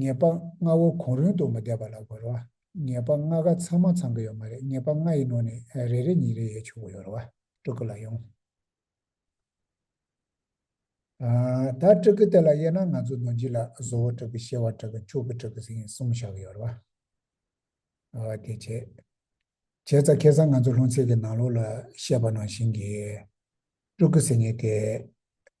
ཉེས་པ་ལྔ་བོ་གོང་རིང་དུ་མ་བསྡད་པ་ལ་གོ་རེ་བ། ཉེས་པ་ལྔ་ག་ཚང་མ་ཚང་གི་ཡོད་མ་རེད་ཉེས་པ་ལྔ་ཡི་ནང་ནས་རེ་རེ་གཉིས་རེ་ཡོད་ཆོག་གི་ཡོད་རེ་བ། སྤྲུལ་སྐུ་ལ་ཡང། ད་སྤྲུལ་སྐུ་དེ་ལ་དབྱེ་ན་ང་ཚོ་རྡོ་རྗེ་ལ་བཟོ་བོ་སྤྲུལ་སྐུ་གཤེ་བ་སྤྲུལ་སྐུ་མཆོག་གི་སྤྲུལ་སྐུ་ཟིན་གསུམ་བཞག་གི་ཡོད་རེ་བ། དེ་བྱས། བྱས་ཙང་ཁེ་སང་ང་ཚོ་ལྷུང་ཚིག་གི་ནང་ལོགས་ལ་བཤད་པ་ནང་བཞིན་གྱི་སྤྲུལ་སྐུ་ཟེར་ཉེས་དེ།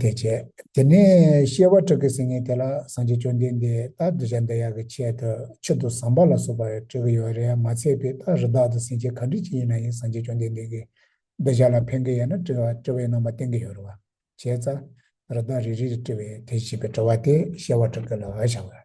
དེ་བྱས་དེ་ནས་གཤེ་བ་ཁྲག་གི་སེང་ངེ་དེ་ལ་སངས་རྒྱས་བཅོམ་ལྡན་འདས་རྟག་གདུལ་བྱ་འདི་ཡག་གི་ཆེད་དུ་ཕྱིར་དུ་ཟམ་པ་ལ་སོགས་པར་སྤྲོད་ཀྱི་ཡོད་རེད་མ་ཚད་པའི་རྟག་རི་དག་ཏུ་སེང་ཆེན་ག་འདྲི་ཅི་ཡིན་ན་ཡང་སངས་རྒྱས་བཅོམ་ལྡན་འདས་ཀྱི་གདུལ་བྱ་ལ་ཕན་གི་ཡོད་ན་དྲི་བའི་རྣམ་པ་བསྟན་གི་ཡོད་རེད་བ་བྱས་ཙ་རི་དག་རི་རིར་དྲི་བའི་དེ་བྱས་པའི་དྲི་བ་དེ་གཤེ་བ་ཁྲག་གི་ལ་བ་བྱ་བ།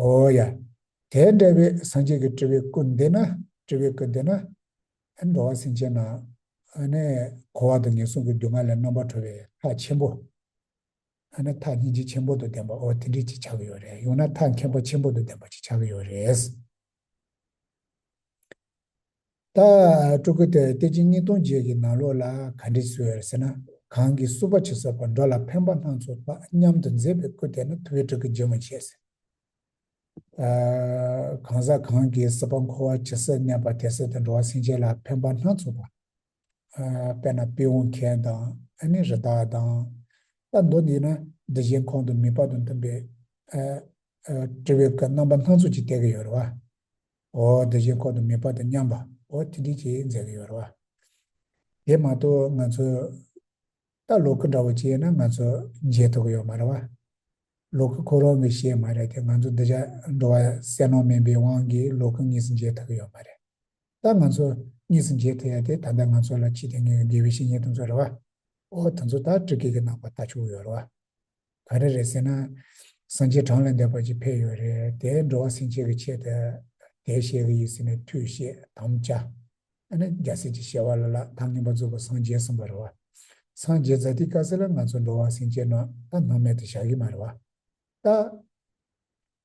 ཨོ་ཡ། དེ་འདྲ་བའི་སངས་རྒྱས་ཀྱི་སྤྲུལ་པའི་སྐུ་འདི་ན་སྤྲུལ་པའི་སྐུ་འདི་ན། འགྲོ་བ་སེམས་ཅན་རྣམས་འཁོར་བ་དང་ངན་སོང་གི་སྡུག་བསྔལ་ལས་རྣམ་པར་གྲོལ་བའི་ཐག་ཆེན་པོ། མཐའ་སྙིང་རྗེ་ཆེན་པོ་དུ་ལྡན་པ་འོ་དེ་འདྲས་ཅིག་ཆགས་ཀྱི་ཡོད་རེད་ཡང་ན་ཐག་མཁན་པོ་ཆེན་པོ་དུ་ལྡན་པ་ཅིག་ཆགས་ཀྱི་ཡོད་རེད། ད་སྤྲུལ་སྐུ་དེར་སྟེ་ཕྱི་གཉིས་སྟོང་རྗེས་ཀྱི་ནང་ལོགས་ལ་ག་འདྲི་ཟེར་ཟེར་ན་གང་གིས་བསུ་བ་བྱེད་བསོད་པ་འགྲོ་ལ་ཕན་པ་སྣ་ཚོགས་དག་མཉམ་དུ་མཛད་པའི་སྐུ་དེ་ན་ཐུ་བའི་སྤྲུལ་སྐུ་རྗེ་མོ་ཆེ་ཟེར། གང་ཟག་གང་གིས་བསུ་བ་མཁོ་བ་ཇི་སྲིད་གནས་པ་དེ་སྲིད་དུ་འགྲོ་བ་སེམས་ཅན་ལ་ཕན་པ་སྣ་ཚོགས་པ། དཔེར་ན་དཔེ་འོང་མཁན་དང་ཨ་ནེ་རི་དྭགས་དང། ལྟ་མདོ་འདི་ན་འདི་བཞིན་ཁོང་དུ་མི་ཕབ་དང་མཐུན་པའི། དྲི་བའི་སྐད་རྣམ་པ་སྣ་ཚོགས་ཀྱིས་བཏེག་གི་ཡོད་རེད་བ། འོ་འདི་བཞིན་ཁོང་དུ་མི་ཕབ་དང་མཉམ་པའོ་ཐིག་ཐིག་ཅིག་མཛད་ཀྱི་ཡོད་རེད་བ། དེ་མ་གཏོགས་ང་ཚོས། ད་ལོག་གི་འདྲ་བོ་བྱས་ན་ང་ཚོ་མཇལ་ཐུབ་ཀྱི་ཡོད་མ་རེད་བ། ལོག་གི་ཁོ་རང་གིས་བཤད་མ་རེད་དེ་ང་ཚོ་འདི་ཅག་འགྲོ་བ་གསལ་སྣང་མིན་པའི་དབང་གིས་ལོག་གི་གཉིས་སུ་མཇལ་ཐུབ་ཀྱི་ཡོད་མ་རེད། ད་ང་ཚོ་གཉིས་སུ་མཇལ་ཐུབ་ཡ་དེ་ད་ལྟ་ང་ཚོ་ལ་ཕྱི་དེ་སྔའི་དགེ་བའི་བཤེས་གཉེན་དེ་ཚོ་རེད་བ། ཨོ་དེ་ཚོ་ད་བཀྲིག་དགེ་གི་ནང་པ་ད་ཆུག་ཡོད་རེད་བ། ག་རེ་རེད་ཟེར་ན། སངས་རྒྱས་གྲངས་ལས་འདས་པ་ཅིག་ཕེབས་ཡོད་རེད་དེ་འགྲོ་བ་སྲིན་བྱས་ཀྱི་ཆེད་དུ་དེ་བཤད་ཀྱི་ཡིན་ཟེར་ནས་མཐུས་བཤད་དམ་བཅའ། ཨ་ནི་རྒྱལ་སྲས་ཀྱི་ཞལ་བ་ལ་ལ་དང་ངན་པ་རྫོགས་པའི་སངས་རྒྱས་གསུངས་པ་རེད་བ། སངས་རྒྱས་ཛཱ་ཏི་ཀ་སི་ལ་ང་ཚོ་འགྲོ་བ་སྲིན་བྱས་རྣམས་ལ་སྣང་མེད་དུ་བཞག་གི་མ་རེད་བ། ད།